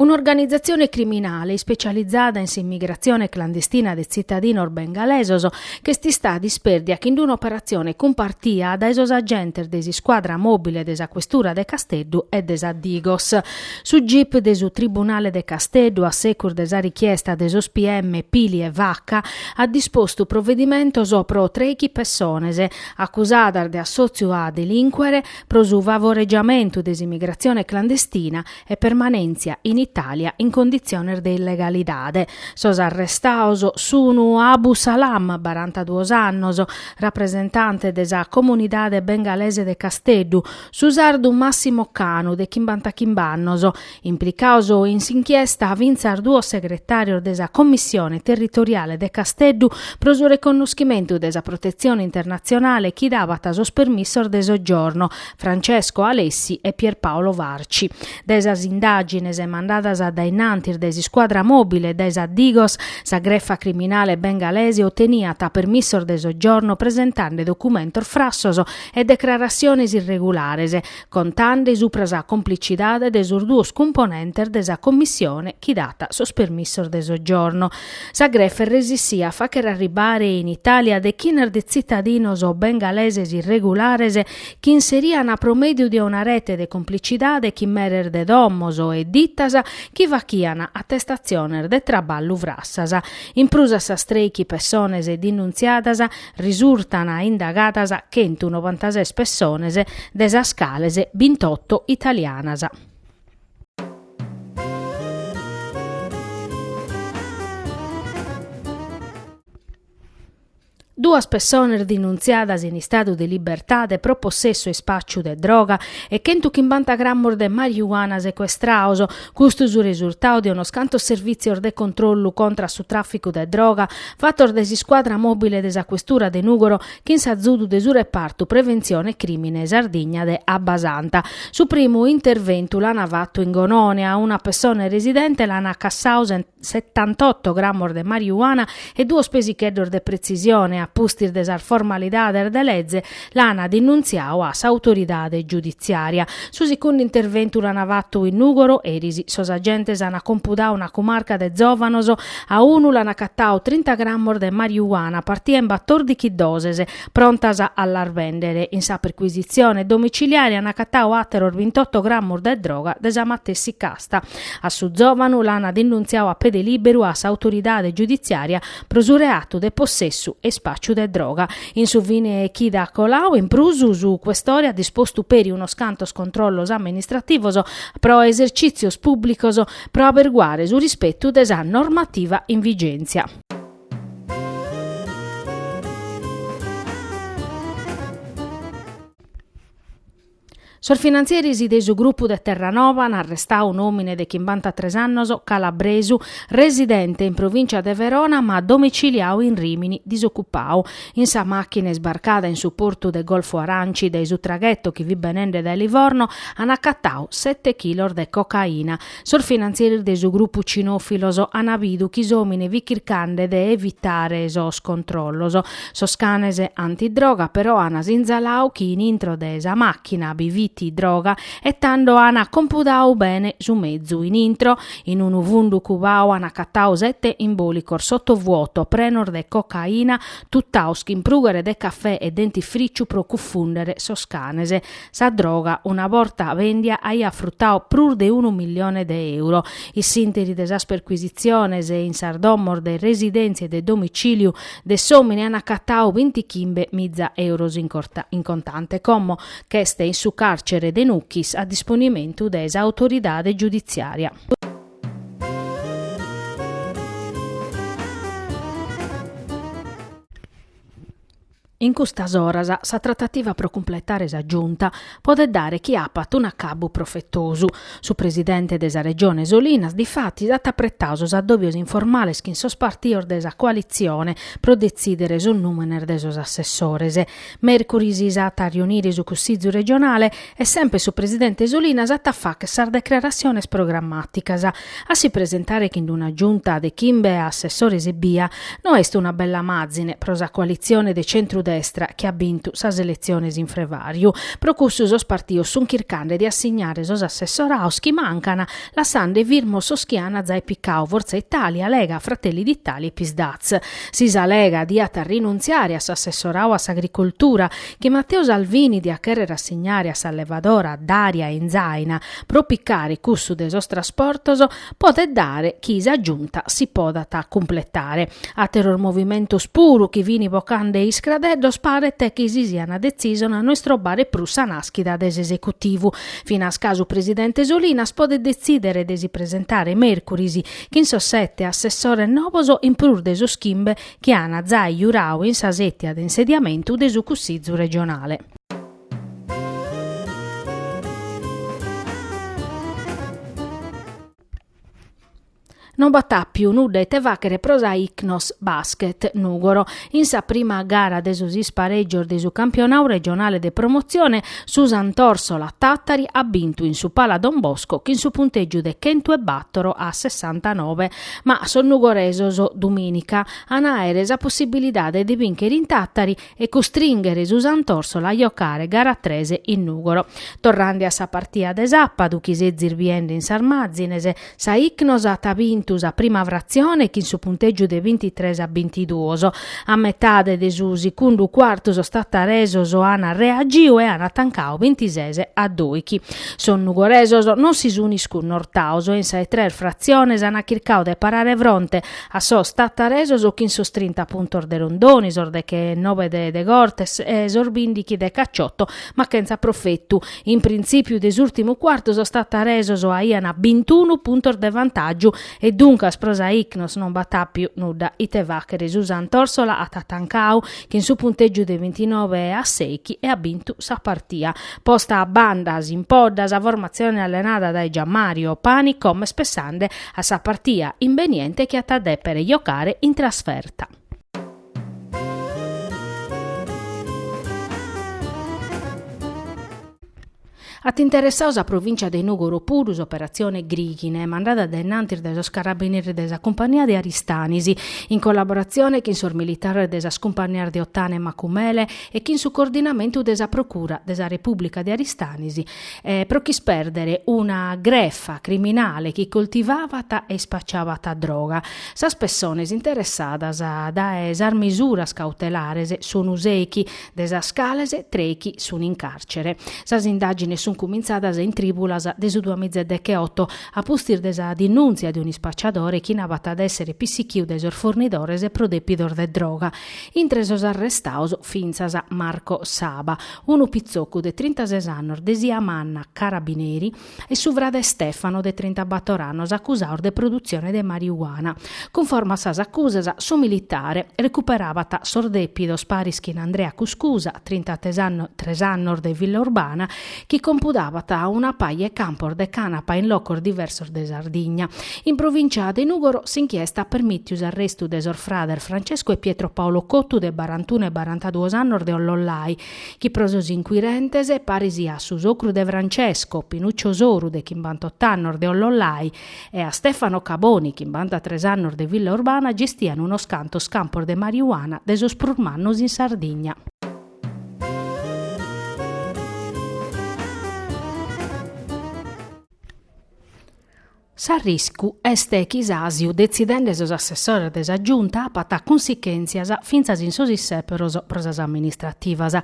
Un'organizatzione criminale ispecializada in s'imigratzione clandestina de tzitadinos bengalesos ch'est istada dispèrdia chin d'un'operatzione cumpartia dae sos agentes de s'iscuadra mòbile de sa Questura de Casteddu e de sa Digos. Su gip de su Tribunale de Casteddu, a secus de sa richiesta de sos PM Pili e Vacca, at dispostu provedimentos pro trèichi pessones, acusadas de assòtziu a delincuere, pro su favoregiamentu de s'imigratzione clandestina e permanèntzia in Itàlia in conditziones de illegalidade. Sos arrestaos sunu Abu Salam, barantaduos annos, rapresentante de sa comunidade bengalese de Casteddu, Su sardu Massimo Canu, de chimbantachimbe annos, implicaos in s'inchiesta fintzas duos segretàrios de sa Commissione territoriale de Casteddu pro su reconnoschimentu de sa protetzione internatzionale chi dabat sos permissos de soggiorno, Francesco Alessi e Pierpaolo Varci. Dae sas indàgines mandadas a dainnantis dae s'iscuadra mòbile e dae sa Digos, sa grefa criminale bengalese oteniat permissos de soggiorno presentande documentos frassos e declaratziones irregulares, contande supra sa complicidade de sos duos cumponentes de sa Commissione chi dat sos permissos de soggiorno. Sa grefa resissia a facher arribare in Italia dechinas de tzitadinos bengaleses irregulares chi inserian pro mèdiu de una rete de complicidade chin meres de domos e ditas chi fachian attestatziones de traballu frassas. In prus a sas trèichi pessones denuntziadas, Risurtan indagadas chentu novantases pessones, de sas cales bintotto italianas. Duas pessones denuntziadas in istadu de libertade pro possessu e ispàciu de droga e chentu chimbanta grammos de marijuana secuestraos, Custu su resurtau de unos cantos servìtzios de controllu contra a su tràficu de droga fatos dae s'iscuadra mòbile de sa Questura de Nùgoro chin s'azudu de su repartu Preventzione Crìmine Sardigna de Abbasanta. Su primu interventu l'ana fatu in Gonone a una pessone residente l'ana cassau sent. setantotto grammos de mariuana e duos pesicheddos de pretzisione, a pustis de sas formalidades de leze, l'ana denunziau a s'autoridade giuditziària. Su sicundu interventu l'ana fatu in Nùgoro, eris, sos agentes ana compudau una cumarca de zòvanos, a unu l'ana acatau trinta grammos de mariuana, partia in batòrdichi doses, prontas a las bèndere. In sa percuisitzione domiciliària ana acatau àteros bintotto grammos de droga de sa matessi cas. Sta a su zòvanu l'ana denuntziau a pede lìberu a s'autoridade giuditziària pro su reatu de possessu e ispàciu de droga. In su fine chida colau, in prus, su Cuestore at dispostu peri unos cantos controllos amministrativos pro esercìtzios pùblicos pro aberguare su rispetu de sa normativa in vigèntzia. Sos finantzieris de su grupu de Terranova an arrestau un'òmine de chimbantatres annos calabresu, residente in provìncia de Verona ma domiciliau in Rìmini, disocupau. In sa màchina isbarcada in su portu de Golfo Aranci dae su tragheto chi fit benende dae Livorno an acatau sete chilos de cocaina. Sos finantzieris de su grupu cinòfilos ant bidu chi s'òmine fit chircande de evitare sos controllos. Sos canes antidroga però ant sinzalau chi in intro de sa màchina bi fit droga e tando ant compudau bene su mezu in intro. In unu fundu cubau ant acatau sete imbòlicos sotovuoto prenos de cocaina, tutaos chin prùghere de cafè e dentifrìciu pro cufùndere sos canes. Sa droga, una borta bèndia, aiat frutau prus de unu milione de euro. In s'ìnteri de sas percuisitziones in sas domos de residèntzia e de domicìliu de s'òmine ant acatau bintichimbe miza euros in contante, como ch'est in su càrcere de Nucchis, a disponimentu de s'autoridade giuditziària. In custas oras sa tratativa pro cumpletare sa Giunta podet dare chi apat un'acabbu profetosu. Su presidente de sa Regione Solinas difatis at apretau sos addòbios informales chin sos partios de sa coalitzione pro detzìdere sos nùmenes de sos assessores. Mèrcuris s'at a riunire su Cussizu regionale e sempre su presidente Solinas at a fàcher sas declaratziones programmàticas. A si presentare chin d'una giunta de chimbe assessores ebbia no est una bella màzine pro sa coalitzione de centru-destra chi at bintu sas eletziones in Frevàriu. Pro cussu sos partios sunt chircande de assignare sos assessoraos chi mancan, lassande firmos sos chi an zai picau Forza Italia, Lega, Fratelli d'Italia e Psd'Az. Si sa Lega diat rinuntziare a s'assessorau a s'agricoltura, chi Matteo Salvini diat chèrrere assignare a s'allevadora Daria Inzaina pro picare cussu de sos trasportos podet dare chi sa Giunta si podat cumpletare. Àteros movimentos puru chi fin bocande iscradeddos paret chi si siant detzisos a no istrobare prus sa nàschida de s'esecutivu. Finas ca su presidente Solinas podet detzìdere de si presentare mèrcuris chin sos sete assessores novos in prus de sos chimbe chi ana jai jurau in sa setia de insediamentu de su Cussizu Regionale. No b'at apiu nudda ite faghere pro sa Icnos Basket Nugoro. In sa prima gara de sos ispareggios de su Campionau Regionale de Promozione su Sant'Orsola Tattari at bintu in su Pala Don Bosco chin su punteggiu de chentu e battor a sessantanove Ma sos nugoresos, dumìnica, an a àere sa possibilidade de bìnchere in Tàtari e custrìnghere su Sant'Òrsola a jocare gara tres in Nùgoro. Torrende a sa partia de sàpadu chi sezis biende in sas màzines, sa Icnos at bintu sa prima fratzione chin su puntègiu de bintitres a bintiduos, A metade de su sicundu cuartu sos tattaresos an reagiu e an atancau bintises a doighi. Sos nugoresos non si sun iscunortaos e in sas tres fratziones an chircadu de parare fronte a sos tattaresos chin sos trinta puntos de Rondoni, sos decheenobe de De Cortes e sos bindighi de Cacciotto, ma chentza profetu. In printzipiu de s'urtimu cuartu sos tattaresos aian bintunu puntos de vantàgiu E duncas pro sa Icnos non b'at àpiu nudda ite fàghere, su Sant'Òrsola at atancau chin su puntègiu de bintinove e a seichi e at bintu sa partia. Posta a banda s'impodda sa formatzione allenada dae Gianmario Pani como est pessande a sa partia imbeniente chi at a dèpere jocare in trasferta. At interessau sa provìncia de Nùgoro puru s'operatzione Grighine, mandada a dainnantis dae sos carabineris de sa cumpania de Aristanis, in collaboratzione chin sos militares de sas cumpanias de Otana e Macumele e chin su coordinamentu de sa Procura de sa Repùblica de Aristanis, pro ch'ispèrdere una grefa criminale chi coltivabat e ispacciabat droga. Sas pessones interessadas dae sas misuras cautelares sunu seichi, de sas cales treichi sun in càrcere. Sas indàgines sun cumintzadas in trìulas de su duamiza e decheoto, a pustis de sa dinùntzia de un'ispacciadore chi nabat de èssere pissichiu dae sos fornidores pro dèpidos de droga. Intre sos arrestados fintzas Marco Saba, Unu pitzocu de trintases annos de Siamanna, carabineri, e su frade Stefano de trintabator annos acusados de produtzione de mariuana. Cunforme a sas acusas, su militare recuperabat sos depidos paris chin Andrea Cuscusa, trintatres annos de Villaurbana, chi compudabat una paja 'e campos de canapa in locos diversos de Sardigna, In provìncia de Nùgoro s'inchiesta at permìtiu s'arrestu de sos frades Francesco e Pietro Paolo Cottu de baranunu e baranaduos annos de Ollollai, chi pro sos incuirentes paris a su socru de Francesco, Pinuccio Soru de chimbanotto annos de Ollollai, e a Stefano Caboni, chimbanatres annos de Villaurbana gestian unos cantos campos de mariuana de sos prus mannos in Sardigna. S'arriscu est chi s'àsiu detzidende sos assessores de sa Giunta apat cunsichèntzias fintzas in sos issèperos pro sas amministrativas.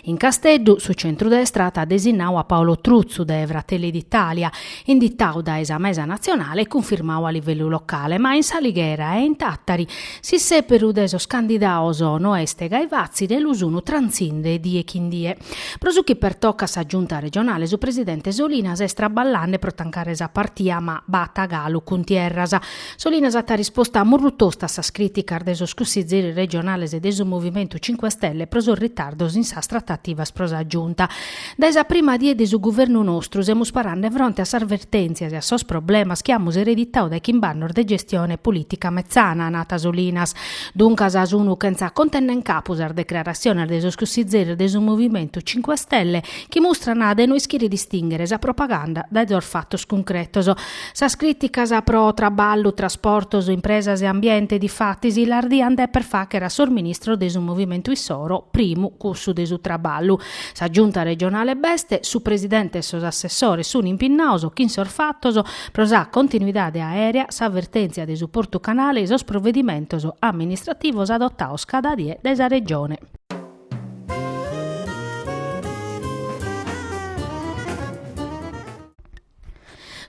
In Casteddu su centrudestra at desinnadu a Paolo Truzzu de Fratelli d'Italia, inditadu dae sa mesa natzionale e cunfirmadu a livellu locale, ma in s'Alighera e in Tàtari S'issèperu de sos candidados no est gai fàtzile e lu sun trantzinde die chin die. Pro su chi pertocat sa Giunta regionale su presidente Solinas est traballande pro tancare sa partia ma b'at galu cuntierras. Solinas at risposta murru tosta a sas crìticas de sos cussizieris regionales de su Movimentu Cinque Stelle pro sos ritardos in sas tratativas pro sa Giunta. Dae sa prima die de su guvernu nostru semus parande fronte a sas vertèntzias e a sos problemas chi amus ereditadu dae chimbannos de gestione polìtica metzana, at nadu Solinas. Duncas sunu chentza conca nen capu sas decrarassiones de sos cussizzeris de su Movimentu Cinque Stelle chi mustran de no ischire distìnghere sa propaganda dae sos fatos cuncretos. Sas crìticas pro traballu, trasportos, impresas e ambiente, difatis, las diant dèpere fàghere a sos ministros de su Movimentu issoro, primu cussu de su traballu. Sa Giunta regionale b'est, su presidente e sos assessores sun impinnados chin sos fatos pro sa continuidade aèrea, sa vertèntzia de su Portu Canale e sos provedimentos amministrativos adotados cada die dae sa Regione.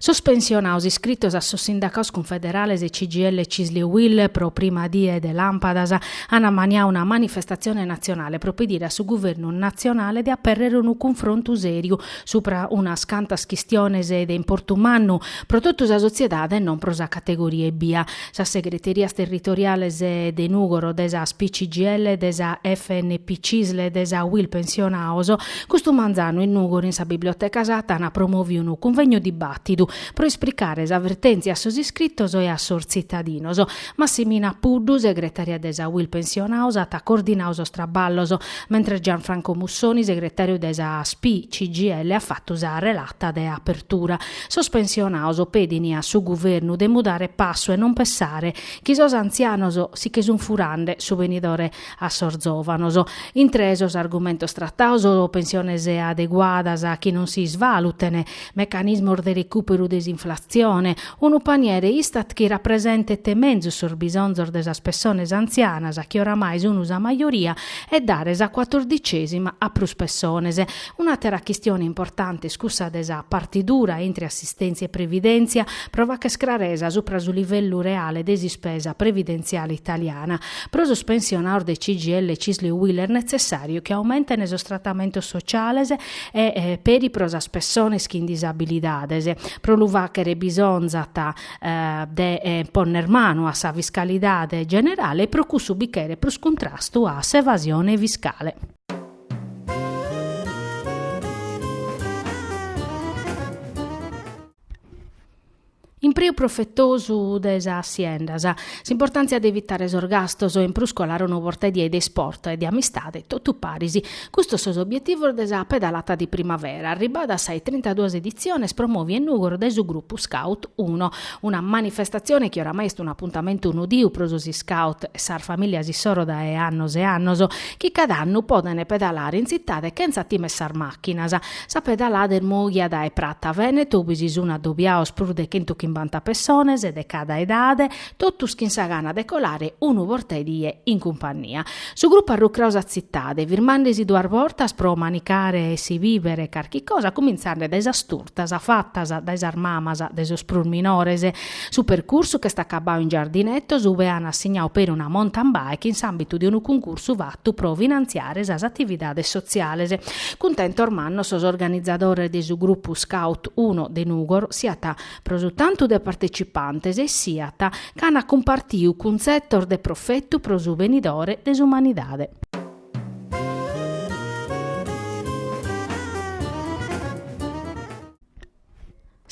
Sos pensionados iscritos a sos sindacados cunfederales CGIL, Cisl e Uil pro prima die de làmpadas ant ammaniadu una manifestatzione natzionale pro pedire a su guvernu natzionale de apèrrere unu cunfrontu sèriu subra unas cantas chistiones de importu mannu pro totu sa sotziedade e non pro sa categoria ebbia Sas segreterias territoriales de Nùgoro de sa SPI CGIL, de sa FNP CISL e de sa UIL pensionados, custu manzanu in Nùgoro in sa Biblioteca Satta ant promòviu unu cunvegnu dibàtidu pro ispricare sa vertèntzia a sos iscritos e a sos tzitadinos. Massimina Puddu, segretària de sa UIL pensionados, at coordinadu sos traballos, mentres Gianfranco Mussoni, segretàriu de sa SPI CGIL, at fatu sa relata de apertura. Sos pensionados pedin a su guvernu de mudare passu e non pessare chi sos antzianos si che sun furande su benidore a sos zovanos. Intre sos argumentos tratados, pensiones adeguadas chi non si isvaluten, mecanismos de recuperu de s'inflatzione, unu paniere Istat chi rapresentet menzus sos bisonzos de sas pessones antzianas chi oramai sun sa majoria e dare sa cuatordicesima a prus pessones. Un'àtera chistione importante est cussa de sa partidura intre assistèntzia e previdèntzia, pro fàcher craresa subra su livellu reale de s'ispesa previdentziale italiana. Pro sos pensionados de CGIL Cisl Uil est netzessàriu chi aumenten sos tratamentos sociales e peri pro sas pessones chin disabilidades. Pro lu fàcher bisonzat de ponner manu a sa fiscalidade generale e pro cussu bi cheret prus cuntrastu a s'evasione fiscale. Impreu profetosu de sas siendas, s'importàntzia de evitare sos gastos e in prus colare unu bortaedie de isport e de amistade totu paris. Custos sos obietivos de sa pedalata de primavera, arribada a sas trintaduas editziones promòvia in Nùgoro dae su grupu Scout Uno. Una manifestatzione chi oramai est un'apuntamentu nodiu pro sos Scout e sas famìlias issoro dae annos e annos, chi cada annu podent pedalare in tzitade chentza tìmer sas màchinas. Sa pedalada est mòghia dae Prata Vènetu ube si sunt adobiaos prus de chentu chimbanta pessones de cada edade, totus chin sa gana de colare unu bortedie in cumpannia. Su grupu at rucrau sa tzitade, firmande-si duas bortas pro manicare e si bìvere carchi cosa, cumintzande dae sas Turtas fatas dae sas mamas de sos prus minores. Su percursu ch'est acabau in Giardinetos ue an assignau peri una mountain bike in s'ambitu de unu cuncursu fatu pro finantziare sas atividades sotziales. Cuntentos mannos sos organizadores de su grupu Scout Uno de Nugoro siat pro su tantu de partecipantes e siat ca an cumpartiu cuntzetos de profetu pro su benidore de s'umanidade.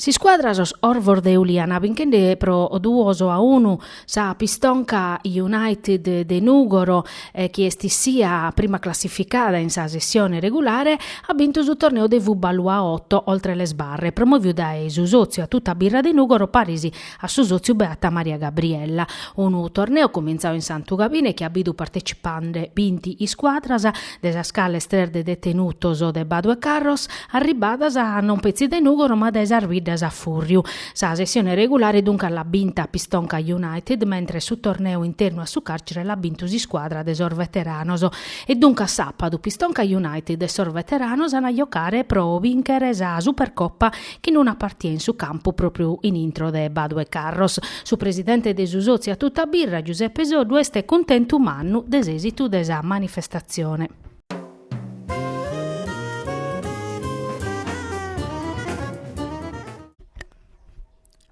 S'iscuadra sos Orvos de Uliana binchende pro duos a unu sa Pistonka United de Nùgoro chi est sia prima classificada in sa sessione regulare at bintu su torneu de Fubalu a oto oltre le sbarre promoviu dae su sòtziu a tuta birra de Nùgoro paris A su sòtziu Beata Maria Gabriella. Unu torneu cumintzau in Santu Gabine chi at bidu partecipande binti iscuadras, de sas cales tres de detenutos de Badu 'e Carros, arribbadas non petzi dae Nùgoro ma dae sas biddas a fùrriu. Sa sessione regulare duncas l'at binta Pistonka United mentres su torneu internu a su càrcere l'at bintu s'iscuadra de sos veteranos. E duncas sàpadu Pistonka United e sos veteranos ant a jocare pro bìnchere sa Supercopa chin una partia in su campu pròpriu in intro de Badu 'e Carros. Su presidente de su sòtziu A Tutta Birra, Giuseppe Soddu est cuntentu mannu de s'èsitu de sa manifestatzione.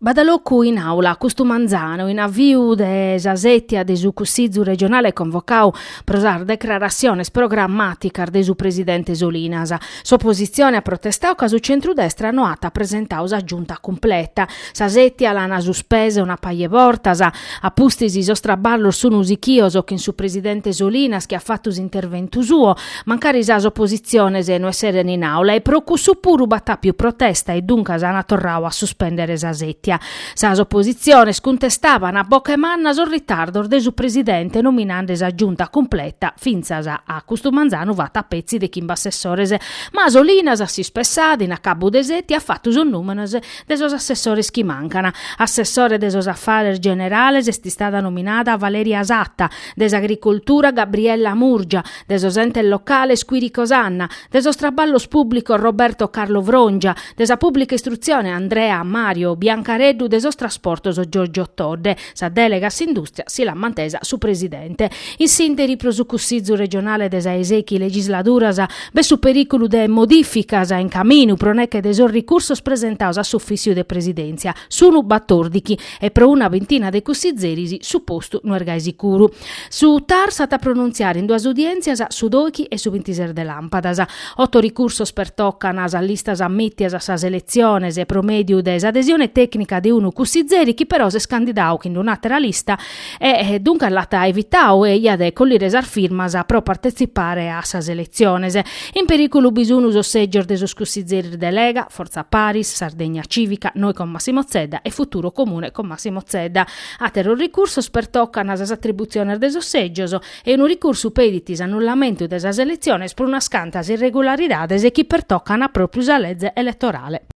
B'at locu in àula custu manzanu in aviu de sa sètia de su Cussìgiu regionale convocau pro sas declaratziones programmàticas de su presidente Solinas. S'opositzione at protestau ca su centrudestra no at presentau sa Giunta cumpleta. Sa sètia l'ana suspesa una paja 'e bortas. A pustis sos traballos sun sichios chin su presidente Solinas chi at fatu s'interventu suo. Mancari sas oppositziones no esseren in àula e pro cussu puru b'at àpiu protesta e duncas ant torrau a suspèndere sa sètia. Sas oppositziones cuntestaban a boche manna sos ritardos de su presidente nominande sa Giunta cumpleta, fintzas a custu manzanu fata petzi de chimbe assessores, ma Solinas a s'ispessada in acabu de sètia at fatu sos nùmenes de sos assessores chi mancan. Assessore de sos Afares Generales est istada nominada Valeria Satta, de s'Agricoltura Gabriella Murgia, de sos entes locales Quirico Sanna, de sos traballos pùblicos Roberto Carlo Frongia, de sa pùblica istrutzione Andrea Mario Biancareddu de sos trasportos Giorgio Todde. Sa dèlega a s'indùstria si l'at mantesa su presidente. In s'ìnteri pro su Cussizu regionale de sa 'e sechi legisladuras b'est su perìculu de modìficas in caminu pro neche de sos ricursos presentados a s'ufìssiu de presidèntzia, sunu batòrdighi, e pro una bintina de cussizeris su postu no est gai sicuru. Su TAR s'at a pronuntziare in duas udièntzias su doighi e su bintises de làmpadas. Oto ricursos pertocan sas listas ammìtias a sas eletziones pro mèdiu de s'adesione tècnica de unu cussizeri chi però s'est candidau chin d'un'àtera lista e duncas l'at evitau e iat de collire sas firmas pro partetzipare a sas eletziones. In perìculu bi sun sos sègios de sos cussizeris de Lega, Fortza Paris, Sardegna Cìvica, Noi con Massimo Zedda e Futuro Comune con Massimo Zedda. Àteros ricursos pertocan sas atributziones de sos sègios e unu ricursu pedit s'annullamentu de sas eletziones pro unas cantas irregularidades chi pertocant pròpiu sa lege eletorale.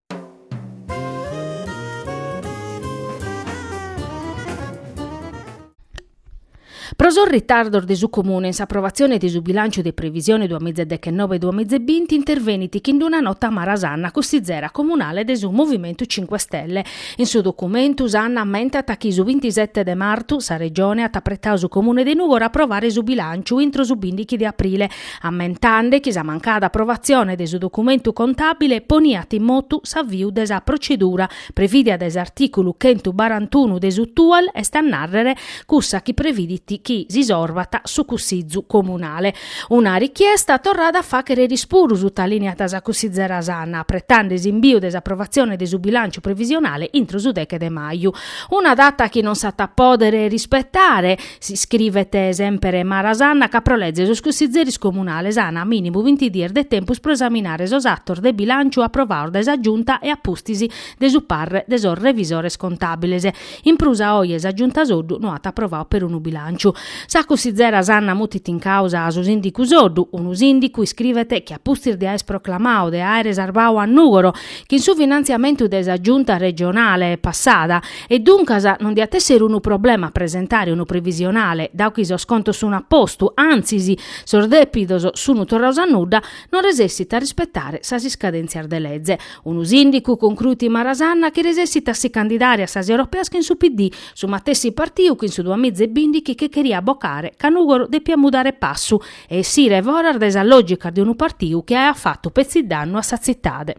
Pro sos ritardos de su Comune in s'aprovatzione de su bilànciu de previsione duas mìgia deghennobe-duas mìgia e binti intervenit chin d'una nota Mara Sanna cussizera comunale de su Movimentu Cinque Stelle. In su documentu Sanna ammentat chi su bintisete de martu sa Regione at apretau su Comune de Nùgoro a aprovare su bilànciu intro su bìndighi de aprile, ammentande chi sa mancada aprovatzione de su documentu contàbile poniat in motu s'aviu de sa procedura Previdia dae s'artìculu chentu barantunu de su TUEL est a nàrrere cussa chi previdit chi s'isorvat su Cussizu Comunale. Una richiesta torrada a fàchere eris puru sutalìniat sa cussizera Sanna, apretande s'imbìu de s'aprovatzione de su bilànciu previsionale intro su deche de maju. Una data chi non s'at a pòdere rispetare, iscrivet semper Mara Sanna ca pro leze sos cussizeris comunales an a mìnimu vinti dies de tempus pro esaminare sos atos de bilànciu aprovaos dae sa Giunta e a pustis de su parre de sos revisores contàbiles. In prus a oe sa Giunta Soddu no at aprovau perunu bilànciu. Sa cussizera Sanna mutit in càusa a su sìndicu Soddu, unu sìndicu, iscrivet, chi a pustis de aer proclamau de àere sarbau a Nùgoro chin su finantziamentu de sa Giunta regionale passada, E duncas non diat èssere unu problema a presentare unu previsionale, dau chi sos contos sun a postu, antzis, sos dèpidos sun torraos a nudda, non resessit a rispetare sas iscadèntzias de leze. Unu sìndicu concruit Mara Sanna chi resessit a si candidare a sas europeas chin su PD, su matessi partiu chi in su duamiza e bìndichi che cheriat bocare ca Nùgoro depiat mudare passu e essire foras dae sas lògicas de unu partiu chi aiat fatu petzi dannu a sa tzitade.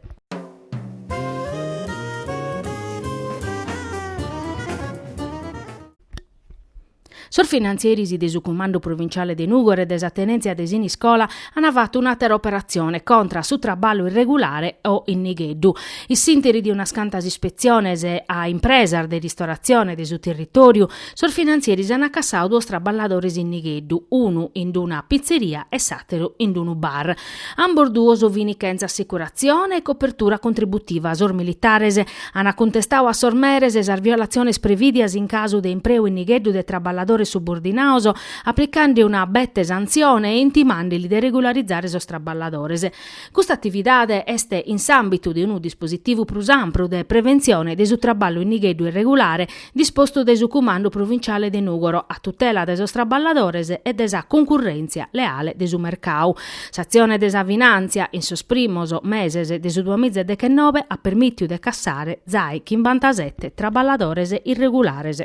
Sos finantzeris de su Cumandu Provinciale de Nùgoro e de sa Tenèntzia de Siniscola ant fatu un'àtera operatzione contra a su traballu irregulare o in nigheddu. In s'interi de unas cantas ispetziones a impresas de ristoratzione de su territòriu, sos finantzeris ant cassau duos traballadores in nigheddu, unu in una pitzeria e s'àteru in unu bar. Ambos duos fini chentza assicuratzione e copertura contributiva. Sos militares ana cuntestadu a sos meres sas violatziones previdias in casu de impreu in nigheddu de traballadores subordinaos, applicande una bete santzione e intimandeli de regularizare sos traballadores. Custa atividade est in s'ambitu de unu dispositivu prus ampru de preventzione de su traballu in nigheddu irregulare, dispostu de su Cumandu Provinciale de Nùgoro a tutela de sos traballadores e de sa cuncurrèntzia leale de su mercau. S'atzione de sa finàntzia in sos primos meses de su duamiza e dechenobe at permìtiu de cassare zai chimbantasete traballadores irregulares.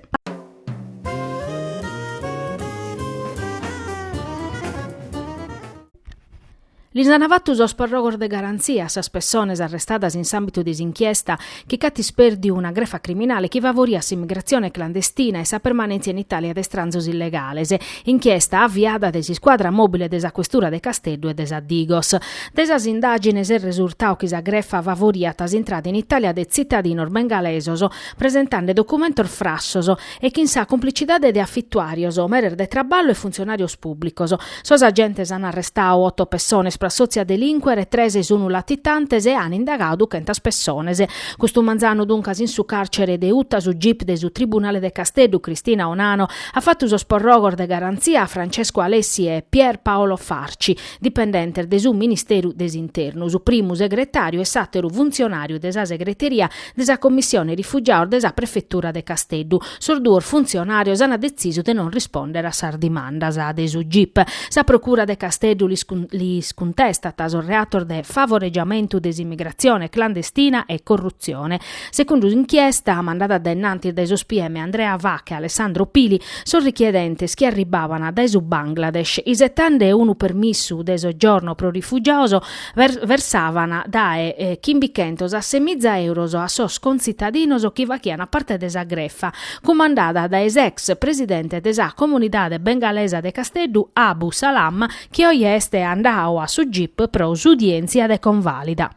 Lis ant fatu sos perrogos de garantzia a sas pessones arrestadas in s'àmbitu de s'inchiesta chi ch'at ispèrdiu una grefa criminale chi favoriat s'immigratzione clandestina e sa permanèntzia in Itàlia de istranzos illegales, inchiesta aviada dae s'iscuadra mòbile de sa Questura de Casteddu e de sa Digos. Dae sas indàgines est resurtau chi sa grefa favoriat s'intrada in Itàlia de tzitadinos bengalesos presentande documentos frassos e chin sa cumplicidade de afituàrios, meres de traballu e funtzionàrios pùblicos. Sos agentes an arrestadu oto pessones pro assòtziu a delìncuere, tres sun latitantes e an indagadu chentas pessones. Custu manzanu duncas in su càrcere de Uta su gip de su tribunale de Casteddu, Cristina Ornano, at fatu sos porrogos de garantzia a Francesco Alessi e Pier Paolo Farci, dipendentes de su Ministeru de s'Internu, su primu segretàriu e s'àteru funtzionàriu de sa segreteria de sa Commissione Rifugiados de sa Prefetura de Casteddu. Sos duos funtzionàrios ant detzisu de non rispòndere a sas dimandas de su gip. Sa Procura de Casteddu lis cuntestat sos reatos de favoregiamentu de s'imigratzione clandestina e corrutzione. Segundu s'inchiesta mandada dae innantis dae sos PM Andrea Vacca e Alessandro Pili, sos richiedentes chi arribbaban dae su Bangladesh isetande unu permissu de sogiorno pro rifugiados, versavan dae chimbichentos a semiza euros a sos contzitadinos chi faghian parte de sa grefa, cumandada dae s'ex presidente de sa comunidade bengalesa de Casteddu, Abu Salam, chi oje est andadu a su gip pro s'udièntzia de convàlida.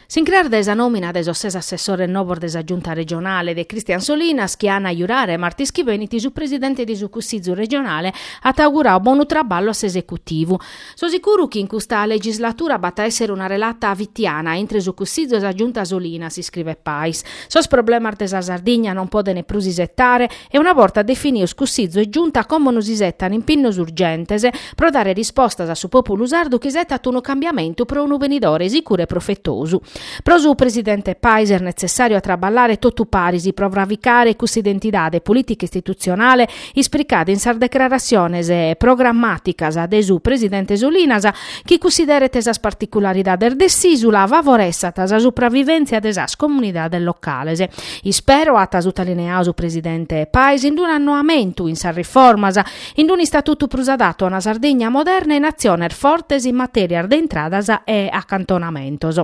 S'incràs dae sa nòmina de sos ses assessores novos de sa Giunta regionale de Christian Solinas chi an a jurare martis chi benit su presidente de su Cussizu regionale at auguradu bonu traballu a s'esecutivu. So sicuru chi in custa legislatura b'at a èssere una relata fitiana intre su Cussizu e sa Giunta Solinas, iscrivet Pais. Sos problemas de sa Sardigna non podent prus isetare, e una borta definidos Cussizu e Giunta como nos isetan impinnos urgentes pro dare rispostas a su pòpulu sardu chi isetat unu cambiamentu pro unu benidore sicuru e profetosu. Pro su presidente Pais est netzessàriu a traballare totu paris pro fravicare cussa identidade polìtica-istitutzionale ispricada in sas declaratziones programmàticas de su presidente Solinas chi cunsideret sas particularidades de s'ìsula e favoressat sa supravivèntzia de sas comunidades locales Ispero, at sutalineau su presidente Pais, in unu annoamentu in sas riformas, in unu istatutu prus adatu a una Sardigna moderna e in atziones fortes in matèrias de intradas e acantonamentos.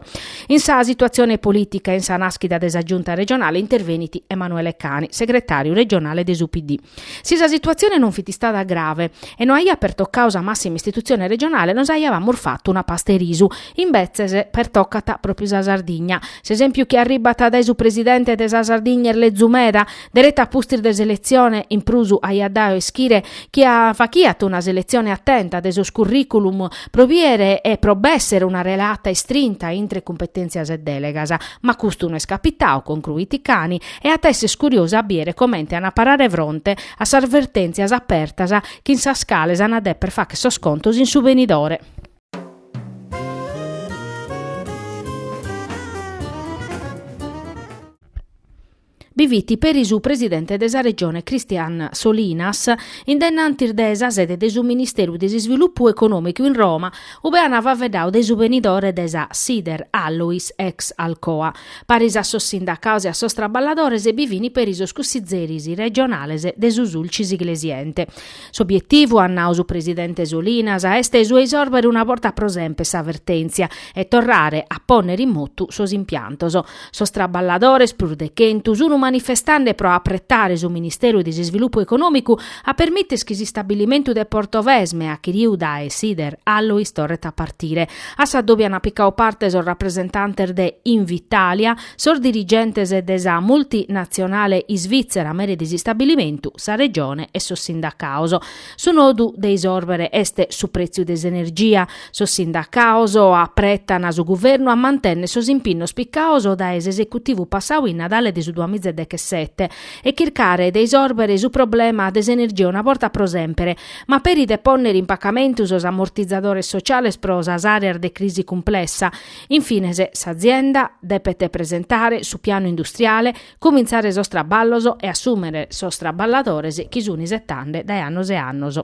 In sa situatzione polìtica e in sa nàschida de sa Giunta regionale intervenit Emanuele Cani, segretàriu regionale de su PD. Si sa situatzione non fit istada grave e no aiat pertocadu sa màssima istitutzione regionale nos aiabamus fatu una pasta 'e risu, Imbetzes pertocat pròpiu sa Sardigna. S'esèmpiu chi arribat dae su presidente de sa Sardigna est lezu meda, deretu a pustis de s'eletzione, in prus aiat dadu a ischire chi fachiat una seletzione atenta de sos curriculum pro bìdere e pro b'èssere una relata istrinta intre cumpetèntzias e dèlegas. Ma custu no est capitadu, concruit Cani, e at a èssere curiosu a bìdere comente an a parare fronte a sas vertèntzias apertas chin sas cales an a dèpere fàghere sos contos in su benidore. bi fit peri su presidente de sa Regione Christian Solinas in dennantis de sa sede de su Ministeru de s'Isvilupu Econòmicu in Roma, ube ant faveddau de su benidore de sa Sider Alloys ex Alcoa. Paris a sos sindacaos e a sos traballadores bi fin peri sos cussizeris regionales de su Sulcis Iglesiente. S'obietivu, at nau su presidente Solinas, est su 'e isòrbere una borta pro semper sa vertèntzia e torrare a pònnere in motu sos impiantos. Sos traballadores, prus de chentu, sunu manifestande pro apretare su Ministeru de s'Isvilupu Econòmicu a permìtere chi s'istabilimentu de Portovesme, achiriu dae Sider Alloys torret a partire. A s'addòbiu an picau parte sos rapresentantes de Invitalia, Sos dirigentes de sa multinatzionale isvìtzera mere de s'istabilimentu, sa Regione e sos sindacaos. Su nodu de isòrbere est su prètziu de s'energia. Sos sindacaos apretan su guvernu a mantènnere sos impinnos picaos dae s'esecutivu passau in Nadale de su duamiza e dechesete e chircare de isòrbere su problema de s'energia una borta pro sèmpere, ma peri de pònnere in pacamentu sos amortizadores sociales pro sas àreas de crisi cumplessa. In fines, s'azienda depet presentare su pianu industriale, cumintzare sos traballos e assùmere sos traballadores chi sunt isetande dae annos e annos.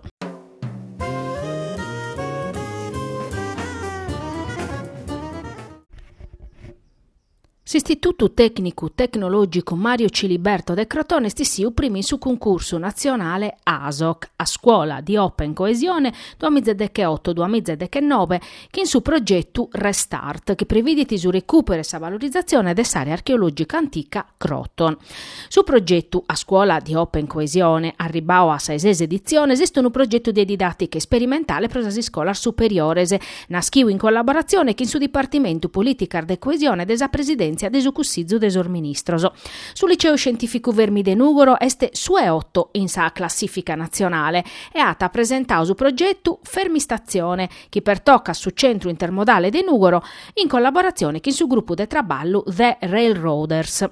S'Istitutu Tècnicu Tecnològicu Mario Ciliberto de Crotone est issiu primu in su cuncursu natzionale ASOC, A scuola di open coesione duamiza e decheoto-duamiza e dechenobe, chin su progetu Restart, chi previdit su recùperu e sa valorizatzione de s'àrea archeològica antica Croton. Su progetu A scuola di Open Coesione, arribbau a sa 'e ses editziones, est unu progetu de didàtica isperimentale pro sas iscolas superiores, naschiu in collaboratzione chin su Dipartimentu Polìticas de Coesione de sa Presidèntzia de su Cussizu de sos Ministros. Su Liceu Scientìficu Fermi de Nùgoro est su 'e oto in sa classìfica natzionale e at presentau su progetu Fermistatzione, chi pertocat su centru intermodale de Nùgoro in collaboratzione chin su grupu de traballu The Railroaders.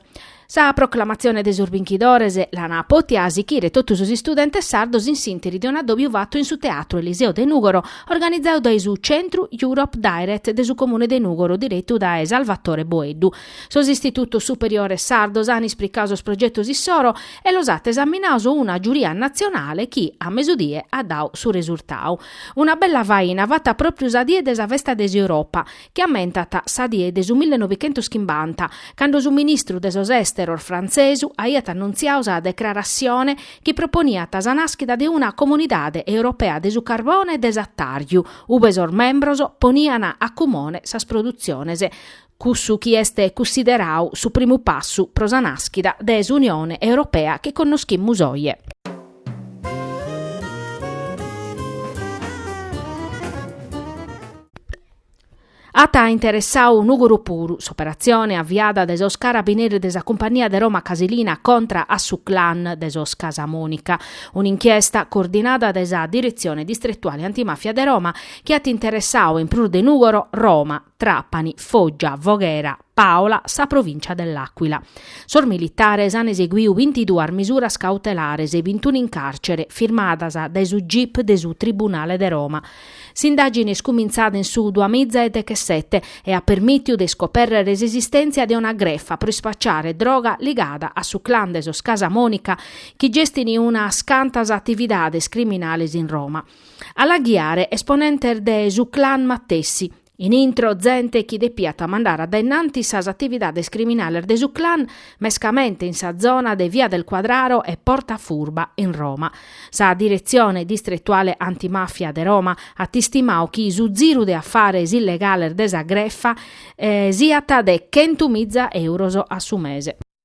Sa proclamatzione de sos binchidores l'an pòtia sichire totu sos istudentes sardos in s'ìnteri de un'addòbiu fatu in su Teatru Eliseo de Nùgoro, organizadu dae su Centru Europe Direct de su Comune de Nùgoro diretu dae Salvatore Boeddu. Sos istitutos superiores sardos an ispricau sos progetos issoro e los at esaminaos una giuria natzionale chi, a mesudie, at dau su resurtadu. Una bella faina fata pròpiu sa die de sa festa de s'Europa, chi ammentat sa die de su mille novichentus chimbanta, cando su ministru de sos Èsteros frantzesu aiat annuntziau sa declaratzione chi proponiat sa nàschida de una Comunidade Europea de su Carbone e de s'Atàrgiu, ube sos membros ponian a cumone sas produtziones cussu chi est cussiderau su primu passu pro sa nàschida de s'Unione Europea chi connoschimus oje. At interessau Nùgoro puru s'operatzione aviada de sos carabineris de sa Cumpagnia de Roma Casilina contra a su clan de sos Casamonica, un'inchiesta coordinada de sa Diretzione Distretuale Antimafia de Roma chi at interessau in prus de Nùgoro, Roma, Trapani, Foggia, Voghera, Pàola, sa provìncia de L'Àquila. Sos militares an eseguiu bintiduas misuras cautelares e bintunu in càrcere, firmadas dae su gip de su Tribunale de Roma. S'indàgine est cumintzada in su duamiza e deghesete e at permìtiu de iscopèrrere s'esistèntzia de una grefa pro ispaciare droga ligada a su clan de sos Casamonica, chi gestini unas cantas atividades criminales in Roma. A la ghiare esponentes de su clan matessi. In intro zente chi depiat mandare a dae innanti sas atividades criminales de su clan, mescamente in sa zona de Via del Quadraro e Porta Furba in Roma. Sa Diretzione Distretuale Antimafia de Roma at istimau chi su ziru de afares illegales de sa grefa siat de chentu miza euros a su mese.